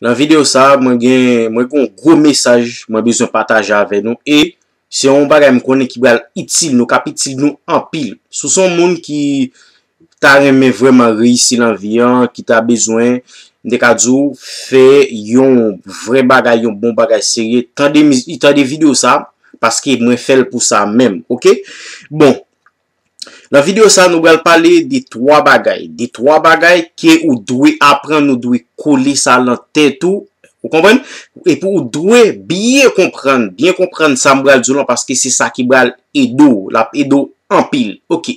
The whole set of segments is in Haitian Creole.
Nan video sa mwen gen mwen gen yon gwo mesaj mwen bezwen pataje avè nou e se yon bagay m konnen ki bal itil nou kap itil nou anpil. Sou son moun ki ta renmen vreman reyisi nan vi an ki ta bezwen m te ka di w fè yon vre bagay yon bon bagay serye tande mizi tande video sa paske mwen fèl pou sa menm ok bon. Nan video sa nou bral pale de 3 bagay, de 3 bagay ke ou dwe aprann, ou dwe kole sa lan tèt ou, ou konprann? Epi ou dwe byen konprann, byen konprann sa m bral di w lan paske se sa ki bral ede w, l ap ede w anpil. Ok,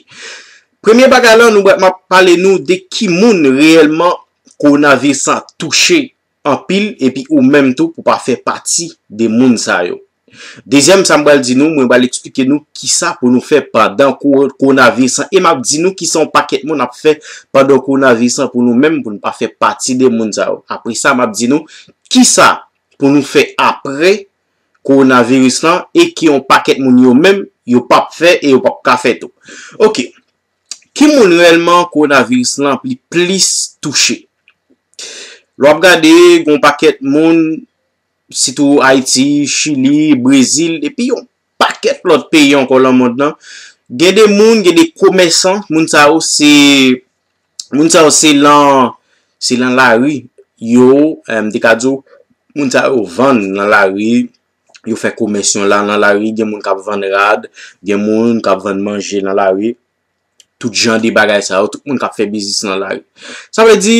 premye bagay lan nou bral, m ap pale nou de ki moun reyèlman kowonaviris lan touche anpil epi ou menm tou pou pa fè pati de moun sa yo. Dezyèm sa m pral di nou, mwen pral eksplike nou kisa pou nou fè pandan kowonaviris lan e m ap di nou kisa yon pakèt moun ap fè pandan kowonaviris lan pou nou menm pou nou pa fè pati de moun sa yo. Apre sa m ap di nou kisa pou nou fè apre kowonaviris lan e ke yon pakèt moun yo menm yo p ap fè e yo p ap ka fè tou. Ok. Ki moun rèlman kowonaviris lan li plis touche? Lè w ap gade gen yon pakèt moun, sitou Ayiti, Chili, Brezil epi yon pakèt lòt peyi ankò lan mond lan, gen de moun, gen de komèsan, moun sa yo se, moun sa yo se lan, se lan lari yo, m te ka di w, moun sa yo vann lan lari, yo fè komès yon la nan lari, gen moun kap vann rad, gen moun kap vann manje nan lari, tout jan de bagay sa yo, tout moun kap fè biznis nan lari. Sa vle di,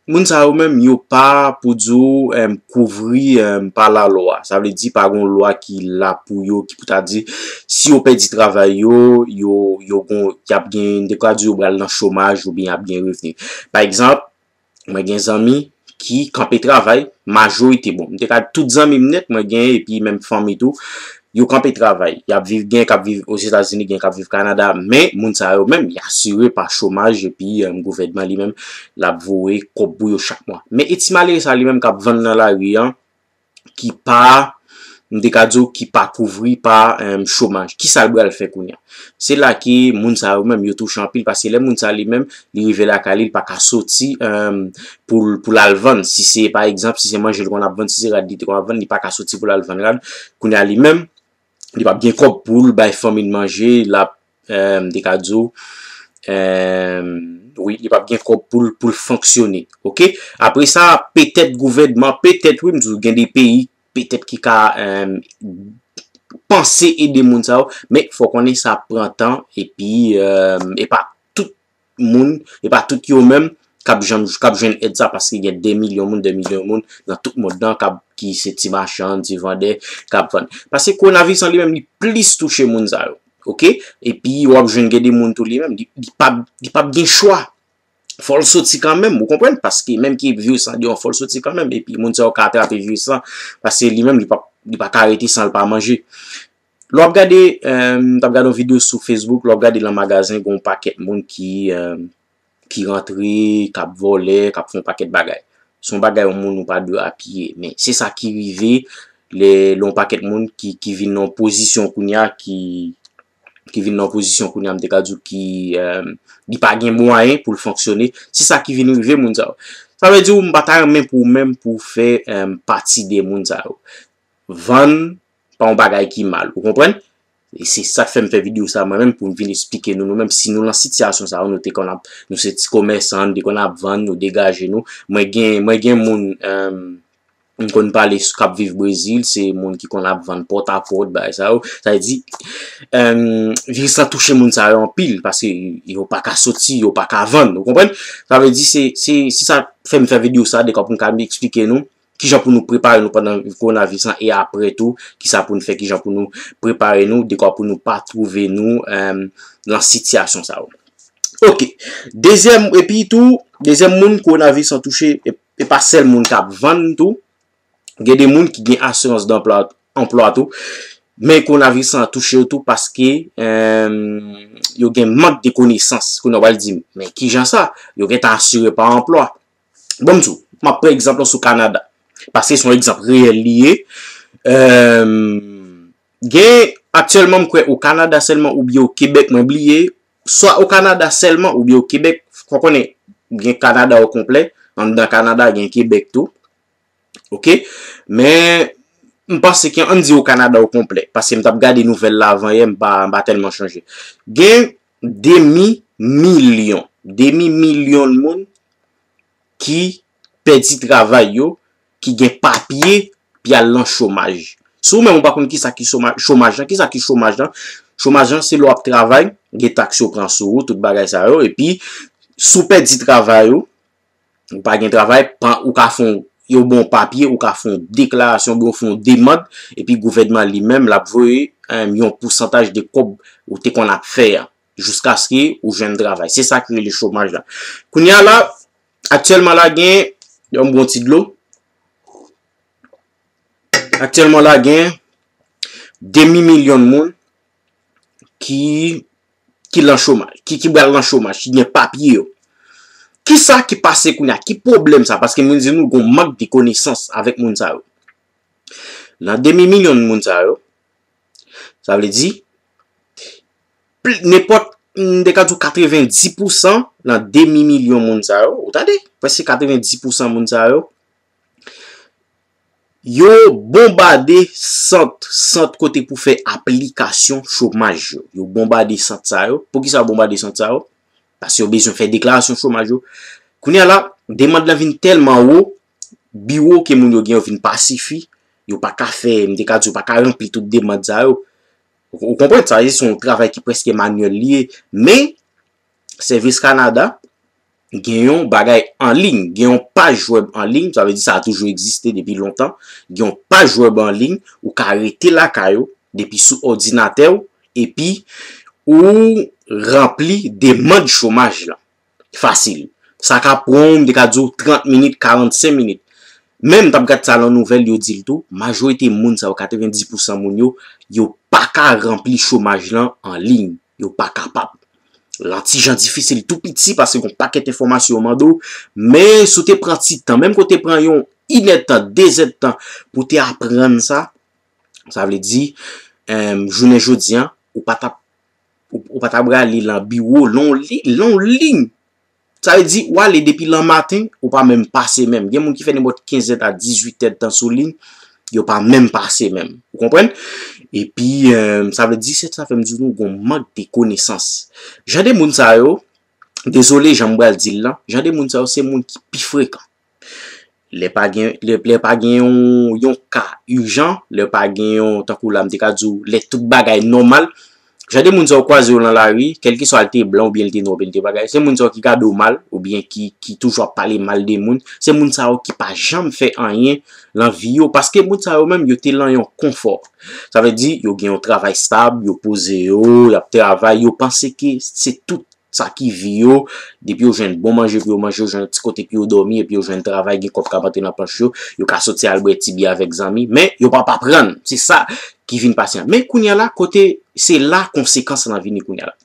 moun sa yo menm yo pa pou di ou kouvri pa la lwa. Sa vle di pa gon lwa ki la pou yo, ki pou ta di, si yo pèdi travay yo, yo gon, yap gen, dekwa di yo bral nan chomaj, yo byen ap gen revni. Pa egzanp, Mwen gen zanmi ki kanpe travay, majorite bon. Mwen te ka di tout zanmi m net mwen gen epi menm fanmi tou, yo kanpe travay. Y ap viv, gen k ap viv Ozetazini, gen k ap viv Kanada. Men, moun sa yo menm, y asire pa chomaj epi gouvènman li menm l ap voye kòb pou yo chak mwa. Men, e ti malere sa li menm k ap vann nan lari an, ki pa, m te ka di w ki pa kouvri pa chomaj. Kisa l bral fè kounye a? Se la ke moun sa yo menm yo touche anpil paske lè moun sa li menm li rive lakay li, li pa ka soti pou l al vann. Si se pa egzanp, si se manje li konn ap vann, si se rad li te konn ap vann, li pa ka soti pou l al vann rad. Kounye a li menm, li pap gen kob poul bay fanmil manje lap ehm te ka diw ehm wi li pap gen kob poul poul fonksyone ok apre sa petèt gouvènman petèt wi m diw gen de peyi petèt ki ka ehm panse ede moun sa yo men fò konnen sa pran tan epi epa moun, e pa tout yo menm kap janm kap jwenn èd sa paske gen de milyon moun, de milyon moun nan tout mond lan kap ki se ti machann, ti vandè kap vann. Paske kowonaviris lan li menm li plis touche moun sa yo. Ok, epi wap jwenn gen de moun tou li menm li pap li pap gen chwa fò l soti kanmenm ou konprann paske menm ki viris lan deyò fò l soti kanmenm epi moun sa yo ka atrape viris lan paske li menm li pap li paka rete san l pa manje. Lè w ap gade, m t ap gade yon videyo sou Facebook, lè w ap gade lan magazen gen yon pakèt moun ki ki rantre, k ap vòlè, k ap fè yon pakèt bagay. Se yon bagay yon moun ou pa dwe apiye. Men, se sa ki rive lè yon pakèt moun ki vin nan yon pozisyon kounye a ki ki vin nan yon pozisyon kounye a m te ka di w ki li pa gen mwayen pou l fonksyone. Se sa ki vin rive moun sa yo. Sa vle di w m pa ta renmen pou ou menm pou w fè pati de moun sa yo. Vann pa yon bagay ki mal. Ou konprann? E se sa k fè m fè videyo sa mwen menm pou m vin esplike nou nou menm si nou lan sitiyasyon sa yo nou te konn ap nou se ti komèsan nou te konn ap vann nou degaje nou. Mwen gen mwen gen moun m konn pale k ap viv Brezil se moun ki konn ap vann pòtapòt bagay sa yo. Sa vle di viris lan touche moun sa yo anpil paske yo pa ka soti yo pa ka vann. Ou konprann? Sa vle di se se sa k fè m fè videyo sa dekwa pou m ka esplike nou. ki jan pou nou prepare nou pandan kowonaviris lan e apre tou, ki sa pou nou fè, ki jan pou nou prepare nou dekwa pou nou pa twouve nou nan sitiyasyon sa yo. Ok, dezyèm, epi tou, dezyèm moun kowonaviris lan touche, e pa sèl moun k ap vann tou, gen de moun ki gen asirans danplwa, anplwa tou, men kowonaviris lan touche yo tou paske yo gen mank de konesans, kounye a w al di m, men ki jan sa, yo gen tan asire pa anplwa, Bon msou, map pran egzanp lan sou Kanada. Paske son egzanp reyèl li ye. Gen, aktyèlman m kwè o Kanada sèlman oubyen o Kebèk mwen bliye. Swa o Kanada sèlman oubyen o Kebèk. Fò konnen, gen Kanada o konplè. Anndan Kanada gen Kebèk tou. Ok. Men, m panse ke ann di o Kanada o konplè. Paske m tap gade nouvèl la avan yè, m pa tèlman chanje. Gen. demi milyon, demi milyon moun ki pèdi travay yo, ki gen papye, pi al lan chomaj. Si ou menm ou pa konn ki sa ki chomaj lan, ki sa ki chomaj lan? Chomaj lan se lè w ap travay, gen taks yo pran sou ou, tout bagay sa yo, epi si w pèdi travay ou, Ou pa gen travay, ou ka fon yon bon papye, ou ka fon deklarasyon, ou ka fon demand, epi gouvènman li menm lap voye yon pousantaj de kob ou te kon ap fè a, jouska se ki ou jwenn travay. Se sa ki rele chomaj la. Kounye a la, aktyèlman la gen, yon bon ti dlo, aktyèlman la gen, demi milyon moun, ki, ki lan chomaj, ki ki bal lan chomaj, ki gen papye yo. Ki sa ki pase koun ya, ki pwoblèm sa, paske moun di nou goun mank de konesans avèk moun sa yo. Lan demi milyon moun sa yo, sa vle di, ne pot, m de ka di w 90 pou san, lan demi milyon moun sa yo, ou tande, pwese 90 pou san moun sa yo, Yo bonbade sant, sant kote pou fè aplikasyon chomaj yo. Yo bonbade sant sa yo. Pou ki sa yo bonbade sant sa yo? Paske yo bezwen fè deklarasyon chomaj yo. Kounye a la, demand lan vin tèlman wo, biwo ke moun yo gen yo vin pa sifi, yo pa ka fè, m te ka di yo pa ka ranpli tout demand sa yo. Ou konprann sa, se yon travay ki prèske manyèl li ye. Men, Sèvis Kanada. gen yon bagay anliy, gen yon paj wèb anliy, sa vle di sa a toujou egziste depi lontan, gen yon paj wèb anliy, ou ka rete lakay ou, depi sou òdinatè ou, epi ou ranpli demand chomaj lan. Fasil. Sa ka pran ou, m te ka di ou 30 minit, 45 minit. Men m t ap gad sa lan nouvèl, yo di l tou, majorite moun sa yo, 90 pousan moun yo, yo pa ka ranpli chomaj lan anliy. Yo pa kapab. Lan ti jan difisil tou piti paske kon pakèt enfòmasyon yo mande w, men si w te pran ti tan, menm ke w te pran yon inèdtan, dezèdtan pou w te aprann sa, sa vle di, jounen jodi an, ou pa ta, ou pa ta brale lan biwo, lan yon liy, lan yon liy Sa vle di, ou ale depi lan maten, ou pa menm pase menm. Gen moun ki fè nenpòt 15 èd a 18 èd tan sou liy, yo pa menm pase menm. Ou konprann? E pi, sa vle di, se sa fè m di nou gon mank de konesans. Jan de moun sa yo, dezole jan m pral di l lan, jan de moun sa yo se moun ki pi frekan. Lè pa gen, lè pa gen yon, yon ka ijan, lè pa gen yon, tankou la m te ka di w, lè tout bagay nòmal, jan de moun sa yo kwaze yo nan lari, kèlkeswa li te blan oubyen li te nwa oubyen li te bagay, se moun sa yo ki gade w mal, oubyen ki, ki toujou ap pale mal de moun, se moun sa yo ki pa janm fè anyen nan vi yo, paske moun sa yo menm yo te lan yon konfò. Sa vle di, yo gen yon travay stab, yo poze yo, y ap travay, yo panse ke se tout sa ki vi yo, depi yo jwenn bon manje pou yo manje, yo jwenn ti kote pou yo dòmi, epi yo jwenn travay, gen kòb k ap antre nan pòch yo, yo ka soti al bwè ti biyè avèk zanmi, men, yo p ap aprann, se sa ki vin pase an. Men, kounye a la, kote, se la konsekans lan vini kounye a la.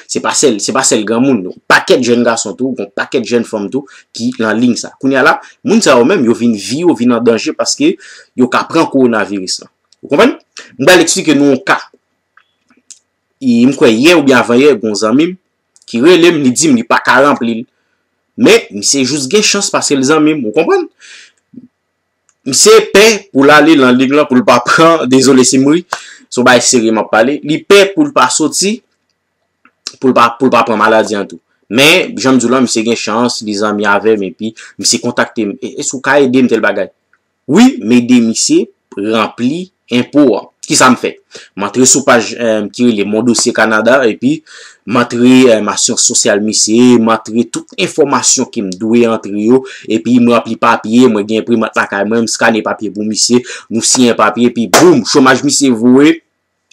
Se pa sèl, se pa sèl granmoun yo, pakèt jèn gason tou, gon pakèt jèn fanm tou, ki lan ling sa. Kounye a la, moun sa yo menm, yo vin vi yo vin an danje paske yo ka pran kowonaviris lan. Ou konprann? M pral esplike nou yon ka. E m kwè yè oubyen avan yè gon zanmi m ki rele m li di m li pa ka ranpli l. Men misye jis gen chans paske l zanmi m ou konprann. Misye pè pou l ale lan lig lan pou l pa pran, dezole si m ri, son bagay serye m ap pale, li pè pou l pa soti pou l pa pou l pa pran maladi an tou. Men jan m di w lan misye gen chans li zanmi avè m epi misye kontakte m, èske ou ka ede m tèl bagay. Wi m ede misye ranpli enpo an. Kisa m fè? M antre sou paj ki rele Mon Dossier Canada epi m antre asyans sosyal misye, m antre tout enfòmasyon ke m dwe antre yo epi m ranpli papye, mwen gen enprimat lakay mwen, m skane papye pou misye, nou siyen papye epi boum! Chomaj misye voye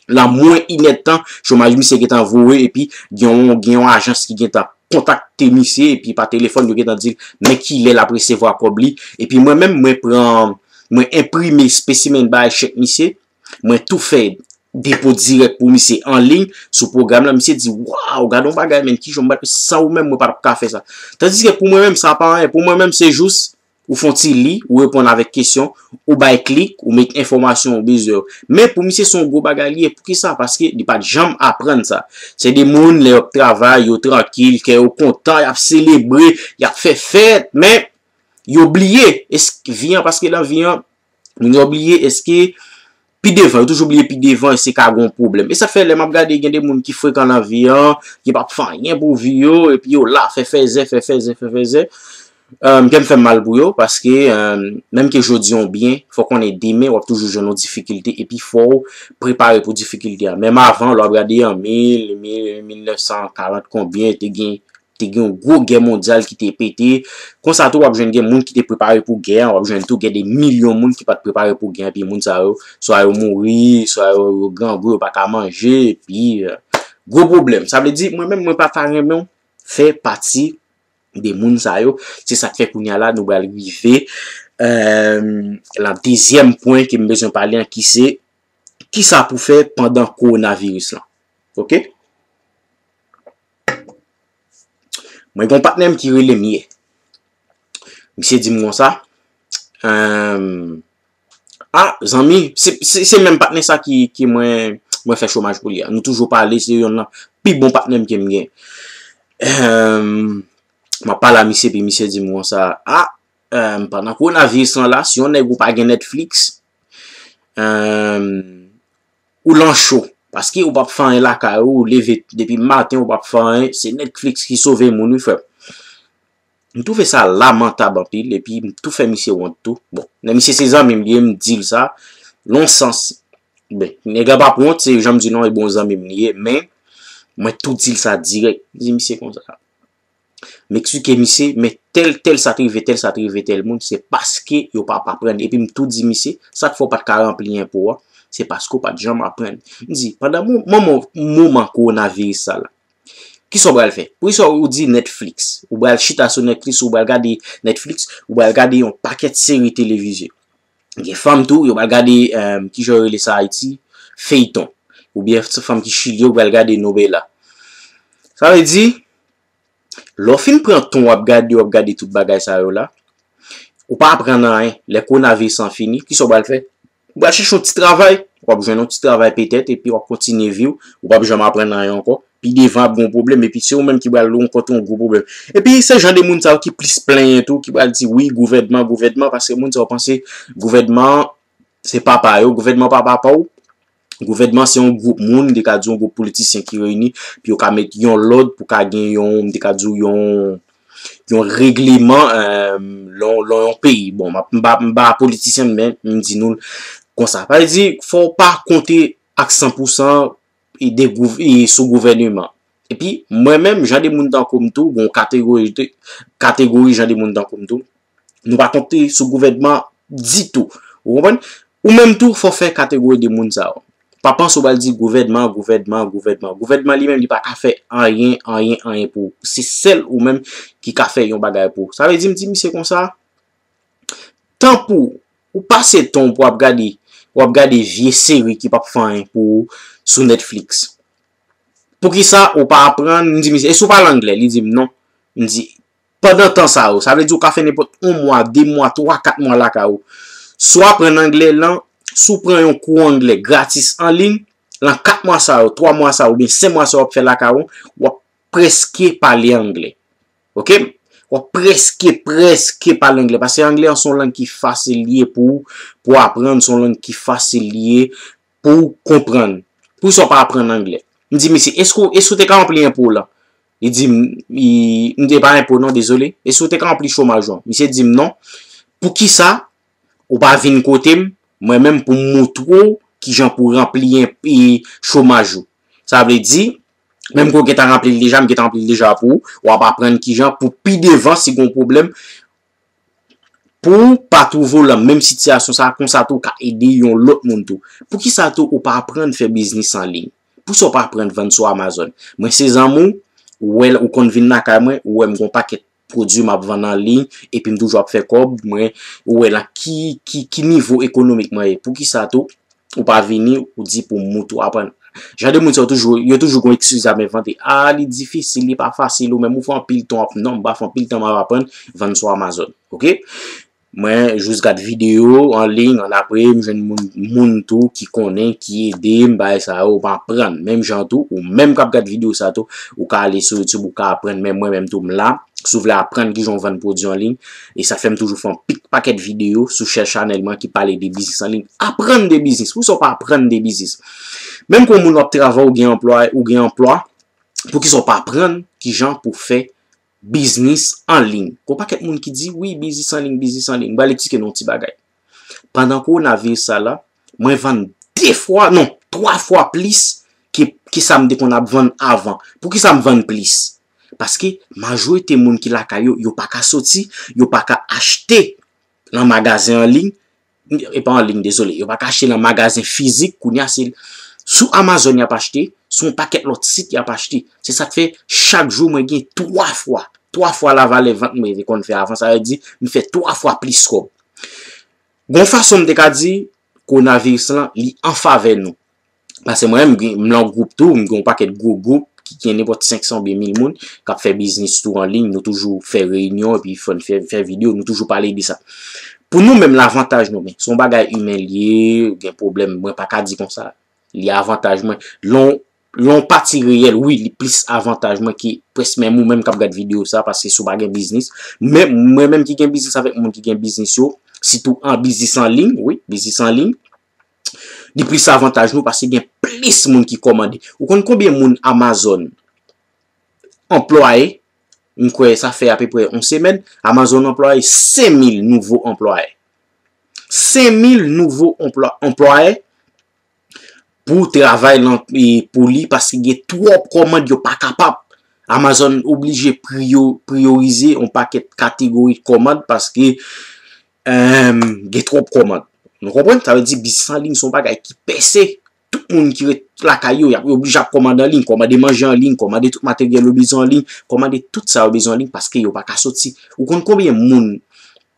la mwen inèdtan chomaj misye gentan voye epi gen yon ajans ki gentan kontakte misye epi pa telefòn yo gentan di l men kilè l ap resevwa kòb li epi mwen menm mwen pran mwen enprime spesimen bay chèk misye mwen tou fè depo dirèk pou misye an liy sou pwogram la misye di waw gad yon bagay men kijan m bat sa ou menm mwen pa tap ka fè sa tandiske pou mwen menm sa pa anyen pou mwen menm se jous ou fon ti li, ou reponn avèk kesyon, ou bay klik, ou met enfòmasyon ou bezwen yo. Men pou misye se yon gwo bagay li ye, poukisa? Paske li pat janm aprann sa. Se de moun lè yo ap travay, yo trankil, kè yo kontan, y ap selebre, y ap fè fèt, men yo bliye eske vi an, paske nan vi an, Moun yo bliye eske pi devan, yo toujou bliye pi devan eske ka gon pwoblèm. E sa fè lè m ap gade gen de moun ki frekan nan vi an, ki pa p fè anyen pou vi yo, epi yo la fè fèzè, fè fèzè, fè fèzè. Kè m fè m mal pou yo, paske menm ke jodi an ou byen, fò w konnen demen w ap toujou jwenn yon difikilte, epi fò w prepare pou difikilte a. Menm avan, lè w ap gade an 1940 konbyen te gen te gen yon gwo gè mondyal ki te pete, konsa tou w ap jwenn gen moun ki te prepare pou gè an, w ap jwenn tou gen de milyon moun ki pa t prepare pou gè an, epi moun sa yo, swa yo mouri, swa yo grangou, yo pa ka manje, epi gwo pwoblèm. Sa vle di, mwen menm mwen pa ta renmen w fè pati de moun sa yo, se sa k fè kounye a la nou pral rive lan dezyèm pwen ke m bezwen pale an ki se, kisa pou fè pandan kowonaviris lan. Ok? Mwen gen yon patnè m ki rele m yè. Misye di m konsa, A, zanmi, se menm patnè sa ki mwen fè chomaj pou li a. Nou toujou pale, se yon nan pi bon patnè m ke m gen. Mwen pale a misye, pi misye di m konsa, A, pandan kowonaviris lan la, si yon nèg ou pa gen Netflix, Ou lan cho, paske ou pap fè anyen lakay ou, ou leve depi maten ou pap fè anyen, se Netflix ki sove moun wi frè m. M twouve sa lamantab anpil, epi m tou fè misye wont tou. Bon, men misye se zanmi m li ye, m di l sa, lon sans, ben, nèg la pap wont, se jan m di l lan, e bon zanmi m li ye, men, mwen tou di l sa dirèk, m di misye konsa. M eksplike misye, men tèl, tèl sa te rive tèl, sa te rive tèl moun, se paske yo pa ap aprann. Epi m tou di misye, sa k fè w pa t ka ranpli enpo a? Se paske w pa t janm aprann. M di, pandan moman kowonaviris sa la, ki sa w pral fè? Poukisa ou di Netflix? Ou pral chita sou Netflix, ou pral gade Netflix, ou pral gade yon pakèt seri televize. Gen fanm tou, yo pral gade, ki jan yo rele sa Ayiti, feyton. Ou byen se fanm ki chili yo pral gade novela. Sa vle di, lè w fin pran tan w ap gade, w ap gade tout bagay sa yo la, ou pa aprann anyen. Lè kowonaviris lan fini, ki sa w pral fè? Ou pral chèche yon ti travay. W ap jwenn yon ti travay petèt epi w ap kontinye vi w. Ou pap janm aprann anyen ankò. pi devan ap gen yon pwoblèm epi se ou menm ki pral rankontre yon gwo pwoblèm. Epi se jan de moun sa yo ki plis plenyen tou ki pral di wi gouvènman, gouvènman paske moun sa yo panse gouvènman an se papa yo, gouvènman pa papa w, gouvènman se yon gwoup moun, m te ka di yon gwoup politisyen ki reyini pou yo ka met yon lòd pou ka gen yon, m te ka di w yon, yon regleman lan yon peyi. Bon, m ap, m pa, m pa politisyen men m di nou l konsa. Sa vle di fò w pa konte ak 100 pou 100. sou gouvèneman. Epi, mwen menm, jan de moun tankou m tou, gon kategori jan de moun tankou m tou, nou pa konte sou gouvènman ditou. Ou konprann? Ou menm tou, fò fè kategori de moun sa yo. Pa panse ou pral di gouvènman, gouvènman, gouvènman. Gouvènman li menm li pa ka fè anyen, anyen, anyen pou ou. Se sèl ou menm ki ka fè yon bagay pou ou. Sa vle di m di misye konsa? Tan pou ou pase tan w pou ap gade, pou ap gade vye seri ki pap fè anyen pou ou sou Netflix. Poukisa ou pa aprann, m di misye, e si w pale angle? Li di m non. M di, pandan tan sa yo, sa vle di ou ka fè nenpòt 1 mwa, 2 mwa, 3, 4 mwa lakay ou. Si w aprann angle lan, si w pran yon kou angle gratis anliy, lan 4 mwa sa yo, 3 mwa sa yo, oubyen 5 mwa sa yo w ap fè lakay ou, w ap preske pale angle. Ok, wap preske, preske pale angle. Pase angle an son lang ki fasil liye pou ou aprann, son lang ki fasil liye pou ou konprann. Pou sa w pa aprann angle? M di misye, eske ou te ka ranpli enpo w lan? Li di m, m di e pa enpo non, dezole. Eske ou te ka ranpli chomaj ou an? Misye di m non. Pou ki sa ou pa vin kote m, mwen menm pou m moutre w ki jan pou ranpli enpo chomaj ou? Sa vle di. Menm ke w gentan ranpli l deja, m gentan ranpli l deja pou ou. W ap aprann kijan pou pi devan si gen yon pwoblèm pou w pa twouve w lan menm sitiyasyon sa a, konsa tou w ka ede yon lòt moun tou. Poukisa tou ou pa aprann fè biznis an liy? Pousa w pa aprann vann sou Amazon? Mwen se zanmi w, ou wè ou konn vin lakay mwen, ou wè m gen yon pakèt. pwodui m ap vann an liy epi m toujou ap fè kòb, mwen wè nan ki, ki, ki nivo ekonomik mwen ye. Poukisa tou, ou pa vini, ou di pou mou tou aprann? Jan de moun sa yo toujou, yo toujou gon ekskiz y ap envante. A, li difisil, li pa fasil, ou menm ou fè anpil tan w ap, non m pa fè anpil tan m ap aprann vann sou Amazon. Ok? Mwen jus gad video an ligne an apre m jwenn moun moun tou ki konnen ki ede m bay sa yo m aprann menm jan tou ou menm kap gad video sa tou ou ka ale sou YouTube ou ka aprann men mwen menm tou m la si w vle aprann kijan w vann pwodwi an ligne e sa fèm toujou fè yon pik pakèt video sou chè chanèl mwen ki pale de biznis an ligne aprann de biznis poukisa w pa aprann de biznis menm ke w moun wap travay ou gen anplwa ou gen anplwa poukisa w pa aprann kijan pou fè Biznis an liy. Gon pakèt moun ki di, wi, biznis an liy, biznis an liy. M pral eksplike nou yon ti bagay. Pandan kowonaviris sa la, mwen vann 2 fwa, non, 3 fwa plis ke sa m te konn ap vann avan. Poukisa m vann plis? Paske majorite moun ki lakay yo, yo pa ka soti, yo pa ka achte nan magazen an liy, e pa an ligne dezole, yo pa ka achte nan magazen fizik kounye a se sou Amazon yap achte, sou yon pakèt lòt sit yap achte, se sak fè chak jou mwen gen 3 fwa, 3 fwa la valè vant mwen te konn fè avan, sa vle di m fè 3 fwa plis kòb. Gon fason m te ka di, kowonaviris lan li an favè nou, Pase mwen menm, m gen yon gwoup tou, m gen yon pakèt gwo gwoup ki gen nenpòt 500 oubyen 1000 moun k ap fè biznis tou an liy. Nou toujou fè reyinyon epi fè videyo, nou toujou pale de sa. Pou nou menm, lavantaj nou men, se yon bagay imen li ye, ou gen pwoblèm, mwen pa ka di kon sa. Li avantaj mwen. Lè yon pati reyèl, wi, li plis avantaj mwen ke prèsk menm ou menm k ap gad videyo sa pase si w pa gen biznis. Men, mwen menm ki gen biznis avèk moun ki gen biznis yo, sitou an biznis an liy, wi, biznis an liy, Li plis avantaj nou paske gen plis moun ki kòmande. Ou konn konbyen moun Amazon anplwaye? M kwè sa fè apeprè yon semèn, Amazon anplwaye 5000 nouvo anplwaye. 5000 nouvo anplwaye pou travay lan pou li paske gen twòp kòmand yo pa kapab. Amazon oblije priyorize yon pakèt kategori kòmand paske Emm gen twop komand. Nou konprann sa vle di biznis an liy son bagay ki pèse. Tout moun ki ret lakay yo yap yo oblije ap komande an liy, komande manje an liy, komande tout materyèl yo bezwen an liy, komande tout sa yo bezwen an liy paske yo paka soti. Ou konn konbyen moun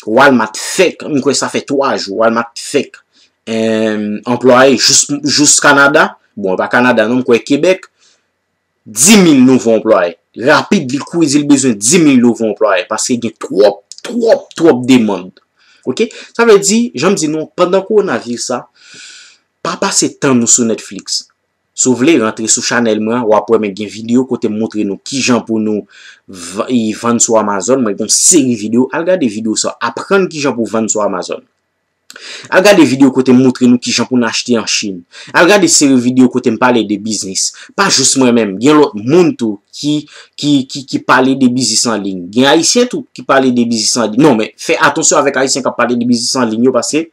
Walmart fek, m kwè sa fè 3 jou Walmart fek emm anplwaye jous jous Canada, bon e pa Canada non m kwè Quebec 10 mil nouvo anplwaye. Rapid li kouri di li bezwen 10 mil nouvo anplwaye paske gen twòp, twòp, twòp demand. Ok, sa vle di, jan m di nou, pandan kowonaviris sa, pa pase tan nou sou Netflix. Si w vle, rantre sou chanèl mwen an, w ap wè mwen gen videyo kote m montre nou ki jan pou nou vann sou Amazon. Mwen gen yon seri videyo, al gade videyo sa, aprann ki jan pou vann sou Amazon. Al gade video kote m moutre nou kijan pou n achte an chine. Al gade seri video kote m pale de biznis. Pa jous mwen menm, gen lòt moun tou ki ki ki pale de biznis an liy. Gen ayisyen tou ki pale de biznis an liy. Non men, fè atansyon avèk ayisyen k ap pale de biznis an liy yo paske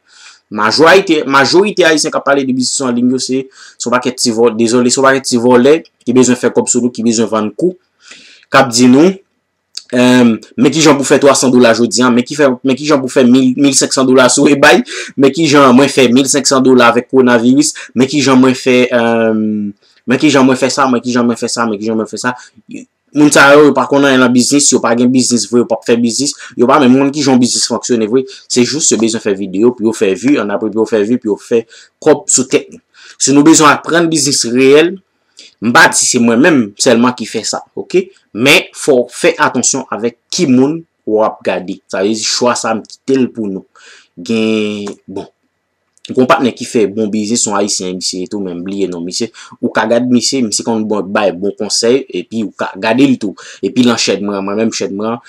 majorayite, majorite ayisyen k ap pale de biznis an liy yo se se yon pakèt ti vòlè, dezole se yon pakèt ti vòlè ki bezwen fè kòb sou nou, ki bezwen vann kou, k ap di nou. men ki jan pou fè 300 dola jodi an, men ki jan pou fè 1500 dola sou ebay, men ki jan mwen fè 1500 dola avèk konaviris, men ki jan mwen fè sa, men ki jan mwen fè sa, men ki jan mwen fè sa. Moun sa yo, yo pa konnen yon biznis, yo pa gen biznis vre, yo pa fè biznis, yo pa men moun ki jan biznis fonksyone vre, se jous yo bezon fè video pou yo fè vu, an apre pou yo fè vu, pou yo fè kòp sou tèt nou. Si nou bezon aprann biznis reyèl, M pa di se mwen menm sèlman ki fè sa ok. Men fò w fè atansyon avèk ki moun w ap gade. Sa vle di chwa sa m kite l pou nou. Gen bon. Gon patnè ki fè bon biznis son ayisyen misye ye tou men m bliye non misye. Ou ka gade misye, misye konn bay bon konsèy epi ou ka gade l tou. Epi lan chèn m lan mwen menm chèn m lan.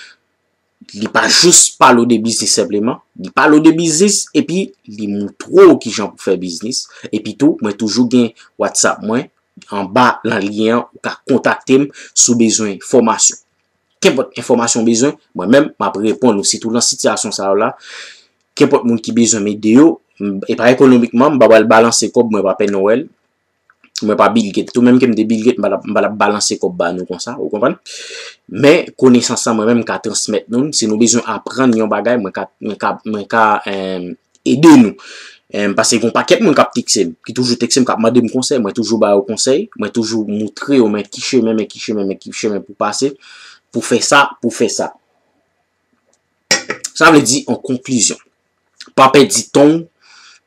Li pa jis pale w de biznis senpleman, li pale w de biznis epi li moutre w kijan pou fè biznis. Epi tou, mwen toujou gen WhatsApp mwen, anba nan lyen an, ou ka kontakte m si w bezwen fòmasyon. Kenpòt enfòmasyon w bezwen, mwen menm m ap reponn ou, sitou nan sitiyasyon sa yo la, kenpòt moun ki bezwen m ede yo, epa ekonomikman, m pa pral balanse kòb mwen pa Pè Nowèl. Mwen pa Bill Gates tou, menm ke m te Bill Gates, m pa t ap balanse kòb ba nou konsa, ou konprann? Men, konesans sa mwen menm m ka transmèt nou l, si nou bezwen aprann yon bagay, mwen ka, mwen ka, mwen ka ede nou. Pase gen yon pakèt moun k ap tekse m, ki toujou tekse m, k ap mande m konsèy, mwen toujou ba yo konsèy, mwen toujou moutre yo men ki chemen, men ki chemen, men ki chemen pou pase, pou fè sa, pou fè sa. Sa vle di an konklizyon, pa pèdi tan w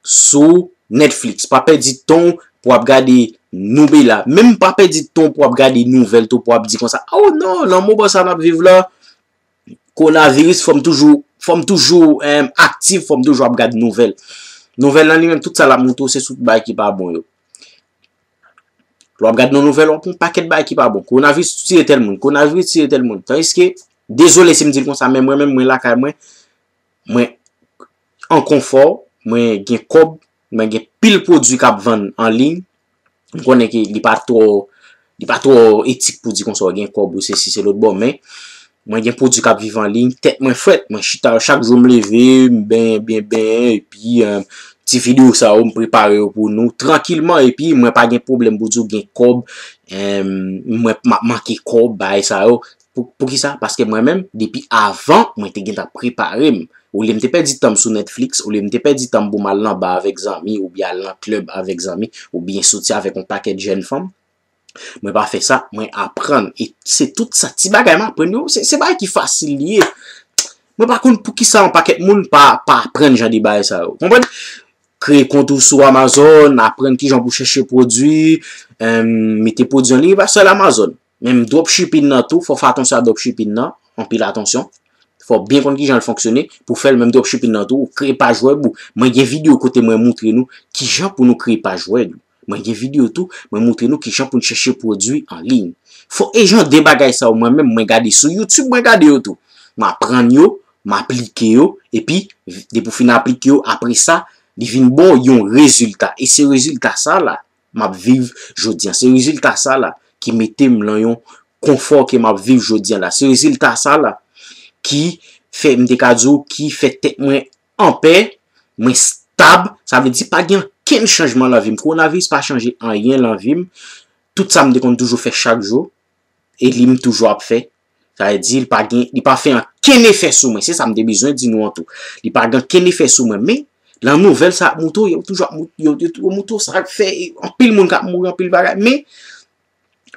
sou Netflix, pa pèdi tan w pou ap gade Noubela, menm pa pèdi tan w pou ap gade nouvèl tou pou ap di konsa, oh non, nan moman sa n ap viv la, kowonaviris fò m toujou, fò m toujou aktif, fò m toujou ap gade nouvèl. Nouvèl la li menm tout sa l ap montre w se sou bagay ki pa bon yo. Lò ap gad nan nouvèl wap yon pakèt bay ki pa bon. Konavis tiye tèl moun. Konavis tiye tèl moun. Tan iske, dezole si m di l konsa men mwen menm mwen lakay mwen, mwen an konfò, mwen gen kòb, mwen gen pil pwodui kap vann an liy, m konnen ke li pa twò, li pa twò etik pou di konsa w gen kòb ou se si se lòt bon men, Mwen gen pwodwi kap viv an liy, tèt mwen frèt, mwen chita chak jou m leve, m benyen byen benyen epi ti video sa yo m prepare yo pou nou trankilman epi mwen pa gen pwoblèm pou di w gen kòb mwen map manke kòb bagay sa yo poukisa paske mwen menm depi avan mwen te gentan prepare m olye m te pèdi tan m sou Netflix olye m te pèdi tan m pou m al nan bar avèk zanmi oubyen al nan club avèk zanmi oubyen soti avèk yon pakèt jèn fanm. Mwen pa fè sa, mwen aprann. E se tout sa ti bagay m aprann yo, se bagay ki fasil li ye. Mwen pa konn pou ki sa yon pakèt moun pa aprann jan de bagay sa yo. Konprann? Kreye kont ou sou Amazon, aprann ki jan pou chèche pwodwi, mete pwodwi an liy, e pa sèl Amazon. Menm dropshipping nan tou, fò w fè atansyon a dropshipping nan, anpil atansyon. Fò w byen konn ki jan l fonksyone, pou fè l menm dropshipping nan tou, kreye paj wèb ou. Mwen gen videyo kote mwen moutre nou ki jan pou nou kreye paj wèb nou. Mwen gen video tou mwen moutre nou kijan poun chèche pwodwi an liy. Fo e jan de bagay sa yo mwen menm mwen gade sou youtube mwen gade yo tou. M aprann yo, m aplike yo epi depi ou fin aplike yo apresa li vin ba w yon rezilta e se rezilta sa la m ap viv jodi an. Se rezilta sa la ki mete m lan yon konfò ke m ap viv jodi an la. Se rezilta sa la ki fè m te ka di w ki fè tèt mwen anpè, mwen stab, sa vle di pa gen ankenn chanjman lan vi m. Kowonaviris pa chanje anyen lan vi m. Tout sa m te konn toujou fè chak jou, e li m toujou ap fè. Sa vle di li pa gen, li pa fè ankenn efè sou mwen. Se sa m te bezwen di nou an tou. Li pa gen ankenn efè sou mwen. Men, lan nouvèl sa ap moute w, yo toujou ap moute, yo toujou ap moute w sa k fè anpil moun k ap mouri, anpil bagay. Men,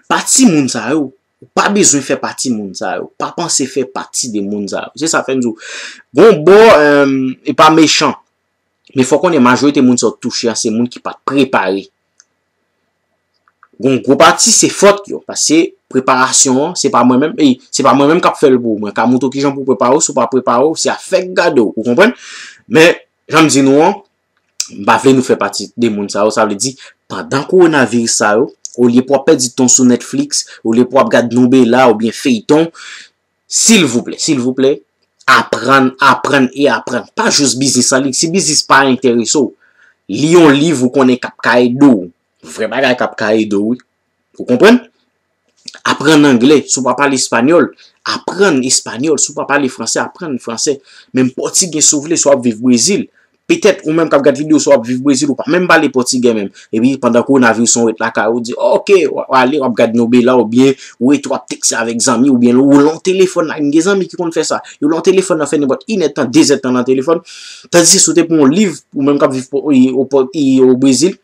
pa timoun sa yo, Ou pa bezwen fè pati moun sa yo. Pa panse fè pati de moun sa yo. Se sa fè m di w. Gon bò, e pa mechan. Men fò konnen majorite moun sa yo touche a se moun ki pa prepare. Gon gwo pati se fòt yo. Pase preparasyon an, se pa mwen menm. E, se pa mwen menm k ap fè l pou ou. Mwen ka montre w kijan pou w prepare w. Si w pa prepare w, se a fèk gade w. Ou konprann? Men, jan m di nou an, M pa vle nou fè pati de moun sa yo, sa vle di, pandan kowonaviris sa yo, olye pou w ap pèdi tan w sou Netflix, olye pou w ap gad nou Bella oubyen feyton, silvouplè, silvouplè, aprann, aprann e aprann. Pa jous biznis an liy, si biznis pa enterese w, li yon liv ou konnen k ap ka ede w. Vrè bagay k ap ka ede w wi. Ou konprann? Aprann angle si w pa pale espanyòl, aprann espanyòl. Si w pa pale franse, aprann franse. Menm pòtigè si w vle, si w ap viv Brezil. Petèt ou menm k ap gad videyo sa w ap viv Brezil, ou pa menm pale pòtigè menm. Epi pandan kowonaviris lan ou ret lakay ou, ou di ok, w ap ale, w ap gad nobela oubyen ou rete w ap tekste avèk zanmi oubyen lè w lan telefòn la, m gen zanmi ki konn fè sa. Yo lan telefòn nan fè nenpòt inèdtan, dezèdtan lan telefòn. Tandis si w te pran yon liv, ou menm k ap viv Brezil,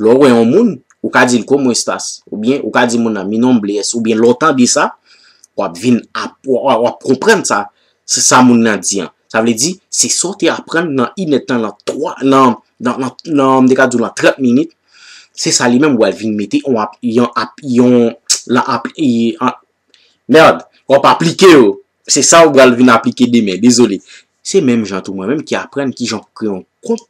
Lè w wè yon moun, ou ka di l como estas? Oubyen ou ka di moun nan mi nombre es? Oubyen lè w tande sa, w ap vin ap, w ap konprann sa, se sa moun nan di an. Sa vle di, se sa w te aprann nan inèd tan, nan twa, nan, nan, nan, nan, m te ka di w nan trant minit, se sa li menm ou al vin mete on ap, yon ap, yon, lan ap, y, an, merd, w ap aplike yo. Se sa ou pral vin aplike demen. Dezole. Se menm jan tou mwen menm ki aprann ki jan pou kreye yon kont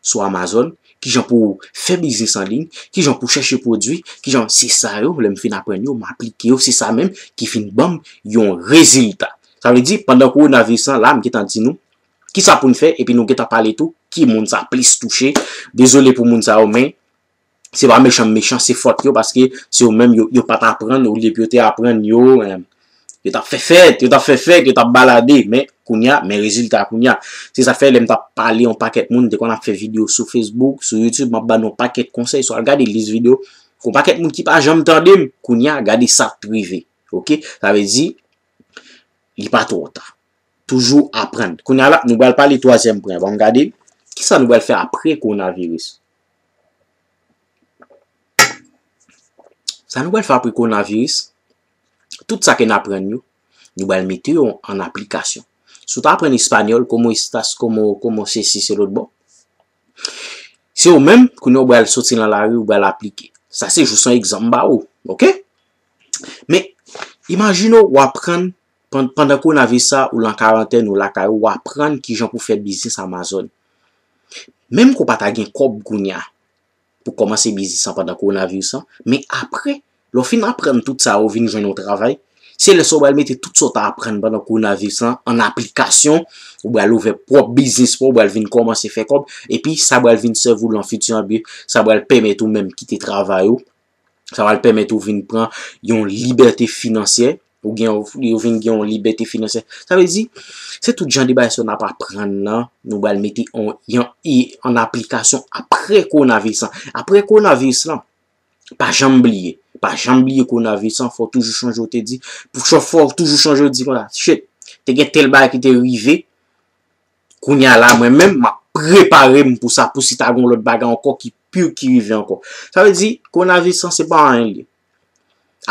sou Amazon, kijan pou ou fè biznis an liy, kijan pou chèche pwodui, kijan se sa yo lè m fin aprann yo m aplike yo se sa menm ki fin banm yon rezilta. Sa vle di pandan kowonaviris lan la m gentan di nou kisa pou n fè epi nou gentan pale tou ki moun sa plis touche dezole pou moun sa yo men Se pa mechan m mechan, se fòt yo paske se yo menm yo pat aprann olye pou yo te aprann yo yo tap fè fèt, yo tap fè fèk, yo tap balade men kounya men rezilta kounya. Se sa fè lè m tap pale yon pakèt moun m te konn ap fè videyo sou Facebook, sou YouTube map ba nou yon pakèt konsèy sou al gade lis videyo yon pakèt moun ki pa janm tande m kounya gade sak t rive ok. Sa vle di li pa twò ta. Toujou aprann. Kounya la nou pral pale twazyèm pwen an. Banm gade kisa nou pral fè apre kowonaviris. Sa nou pral fè apre kowonaviris, tout sa ke n aprann yo, nou pral mete yo an aplikasyon. Si w ta aprann espanyòl, komo estas, komo, komo se si, se lòt bò, se ou menm, kounye a ou pral soti nan lari, ou pral aplike. Sa se jis yon egzanp m ba ou, ok? Men, imajine w aprann Pandan konavis sa, ou lan karantèn, ou lakay ou, ou aprann ki jan pou fè biznis Amazon. Menm ke ou pa ta gen kòb kounya pou kòmanse biznis sa pandan konavis sa, men apre, lè ou fin aprann tout sa yo, ou vin jwenn yon travay, se lè sa ou pral mete tout sa ou ta aprann pandan konavis lan an aplikasyon, ou pral ouvè pwòp biznis pa ou, ou pral vin kòmanse fè kòb, epi sa pral vin sèvi ou lan fiti an, epi sa pral pèmèt ou menm kite travay ou, Sa va pèmèt ou vin pran yon libète finansyè. Ou gen yon vin gen yon libète finansyè. Sa vle di, se tout jan de bay sa nan pa pran nan, nou bal meti yon i an aplikasyon apre konavis lan. Apre konavis lan, pa janm bliye. Pa janm bliye konavis lan, fò toujou chanje ou te di. Fò toujou chanje ou di, shit, te gen tel bay ki te rive, Kounya la mwen menm map prepare m pou sa pou si ta gon lòt bagay ankò ki pire ki rive ankò. Sa vle di kowonaviris lan se pa anyen li ye.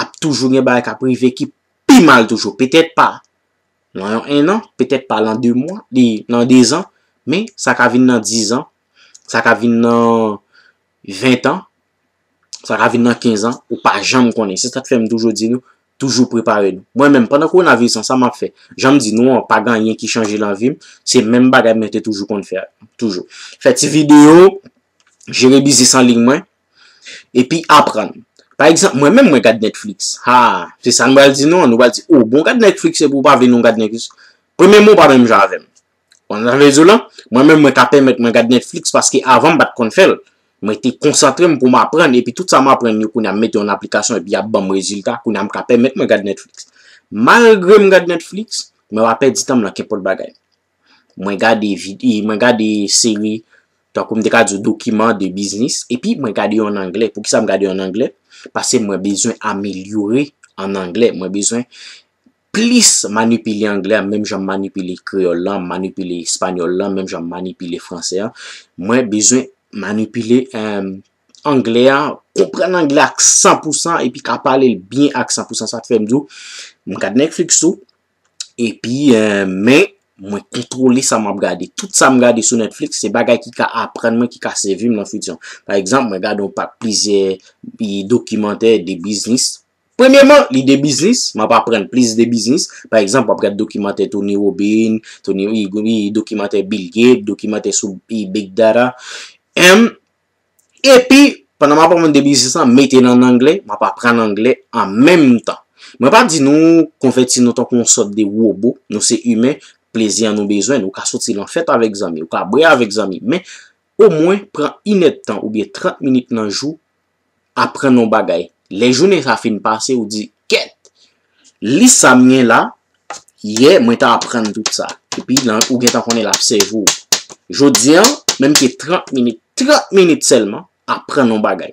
Ap toujou gen bagay kap rive ki pi mal toujou. Petèt pa nan yon 1 an, petèt pa nan 2 mwa, nan 2 zan, men sa ka vin nan 10 zan, sa ka vin nan 20 an. Sa ka vin nan 15 an, ou pa janm konnen. Se sa k fè m toujou di nou, toujou prepare nou. Mwen menm, pandan kowonaviris lan, sa m ap fè? Jan m di nou an, pa gen anyen ki chanje nan vi m. Se menm bagay mwen te toujou konn fè a. Toujou. Fè ti videyo, jere biznis an liy mwen, epi aprann. Pa egzanp, mwen menm mwen gad Netflix. Ha! Se sa nou pral di nou an? Nou pral di, O, bon w gad Netflix epi w pa vle nou gad Netflix? Premyèman, ou pa menm jan avè m. Konn sa vle di w la? Mwen menm mwen ka pèmèt mwen gad Netflix paske avan m pa t konn fè l. Mwen te konsantre m pou m aprann epi tout sa m aprann yo kounye a m mete yo an aplikasyon epi y ap ban m rezilta. Kounye a m ka pèmèt mwen gad Netflix. Malgre m gad Netflix, mwen pa pèdi tan m nan kenpòt bagay. Mwen gade vide, mwen gade seri tankou m te ka di w dokiman de biznis epi mwen gade yo an angle. Poukisa m gade yo an angle? Pase mwen bezwen amelyore an angle. Mwen bezwen plis manipile anglè a menm jan m manipile kreyòl la, m manipile espanyòl la menm jan m manipile fransè a, mwen bezwen manipile anglè a, konprann anglè a ak san pou san epi ka pale l byen ak san pou san. Sa k fè m di w, m gad Netflix tou epi men mwen kontwole sa m ap gade. Tout sa m gade sou Netflix se bagay ki ka aprann mwen, ki ka sèvi m nan fiti. Pa egzanp, mwen gade yon pak plizyè dokimantè de biznis. Premyeman, lide biznis, m ap aprann plis de biznis. Pa egzanp, w ap gad dokimantè Tony Robin, dokimantè Bill Gates, dokimantè sou Big Data. Em, epi, pandan m ap aprann de biznis lan, mete l an angle, m ap aprann angle an menm tan. Mwen pa di nou konvèti nou tankou yon sòt de wobo, nou se imen, plezi an nou bezwen l. Ou ka soti lan fèt avèk zanmi, ou ka bwè avèk zanmi, men, omwen, pran inèdtan oubyen trant minit nan jou aprann yon bagay. Lè jounen sa fin pase ou di, kèt! Lis sa m gen la, yè mwen ta aprann tout sa. Epi nan ou gentan konnen l ap sèvi w. Jodi an, menm ke 30 minit, 30 minit sèlman, aprann yon bagay.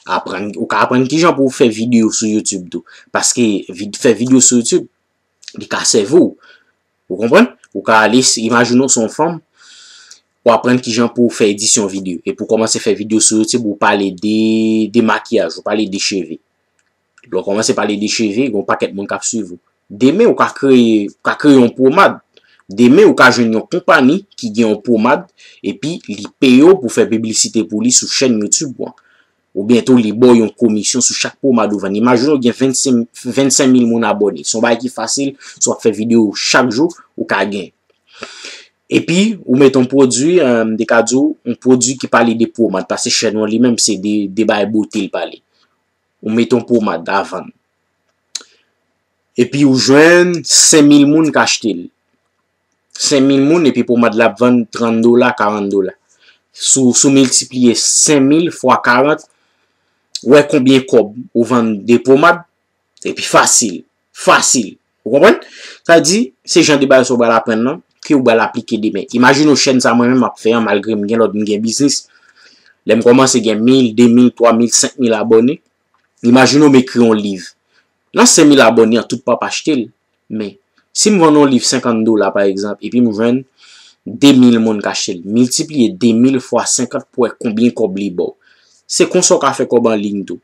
Aprann, ou ka aprann kijan pou w fè videyo sou YouTube tou. Paske fè videyo sou YouTube, li ka sèvi w. Ou konprann? Ou ka ale, imajine ou se yon fanm, ou aprann ki jan pou ou fè edisyon videyo. Epi ou kòmanse fè videyo sou YouTube, ou pale de makiyaj, ou pale de cheve. Lè ou kòmanse pale de cheve, gen yon pakèt moun k ap suiv ou. Demen ou ka kreye, ou ka kreye yon pomad. Demen ou ka jwenn yon konpani ki gen yon pomad, epi li peye ou pou fè piblisite pou li sou chèn YouTube ou an. Oubyen tou li ba w yon komisyon sou chak pwomad ou vann. Imajine w gen 25 mil moun abòne. Se yon bagay ki fasil, si w ap fè videyo chak jou, ou ka gen. Epi, ou met yon pwodui, m te ka di w, yon pwodui ki pale de pwomad. Pase chèn ou li menm se de bagay bote li pale. Ou met yon pwomad a vann. Epi ou jwenn 5 mil moun ki achte li. 5000 moun epi pomad la ap vann 30 dola, 40 dola. Sou sou miltipliye 5000 fwa 40, wè konbyen kòb ou vann de pomad, epi fasil, fasil. Ou konprann? Sa di, se jan de bagay sa ou pral aprann lan, ke ou pral aplike demen. Imajine ou chèn sa mwen menm map fè an, malgre m gen lòt, m gen biznis, lè m kòmanse gen 1000, 2000, 3000, 5000 abòne, Imajine m ekri yon liv. Nan 5000 abòne an tout pap achte l. Men, si m vann yon liv 50 dola pa egzanp epi m jwenn 2000 moun k achte l, miltipliye 2000 fwa 50 pou wè konbyen kòb li ba w. Se konsa w ka fè kòb anliy tou.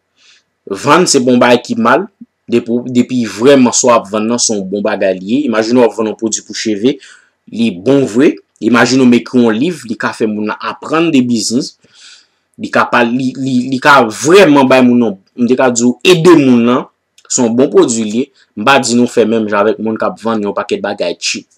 Vann se pa yon bagay ki mal, depi vrèman sa w ap vann nan se yon bon bagay li ye. Imajine w ap vann yon pwodui pou cheve, li bon vre. Imajine m ekri yon liv, li ka fè moun nan aprann de biznis. Li ka pa, li, li, li ka vrèman bay moun yon, m te ka di ou ede moun lan, se yon bon pwodui li ye. M pa di nou fè menm jan avèk moun k ap vann yon pakèt bagay cheap.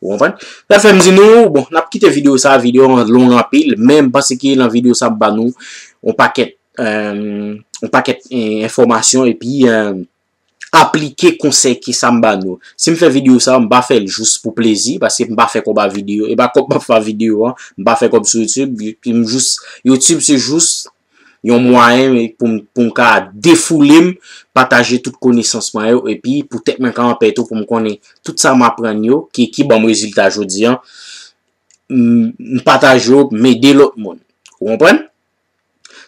Ou konprann? Sa fè m di nou, bon, n ap kite videyo sa a, videyo an long anpil, men m panse ke nan videyo sa m ba nou yon pakèt, yon pakèt enfòmasyon epi. aplike konsèy ke sa m ba nou. Si m fè videyo sa, m pa fè l jous pou plezi, paske m pa fè kòb a videyo, e pa kòb m ap fè a videyo an, m pa fè kòb sou YouTube, m jous, YouTube se jous yon mwayen pou m ka defoule m, pataje tout konesans mwen yo, e pi pou tèt mwen ka anpè tou, pou m konnen tout sa m aprann yo, ki ban m rezilta jodi an, m pataje yo, m ede lòt moun. Ou konprann?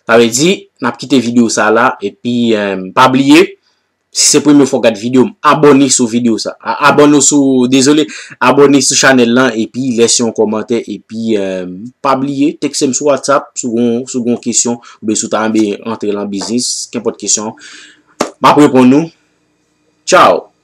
Sa vle di, n ap kite videyo sa la, epi pa bliye, si se premye fwa w gad videyo m, abòne sou videyo sa. Abòne w sou, dezole, abòne sou chanèl lan, epi lèse yon kòmantè, epi pa bliye, tekse m sou WhatsApp, si w gen yon kesyon, oubyen si w ta renmen antre lan biznis, kenpòt kesyon, m ap reponn ou. Tchaw!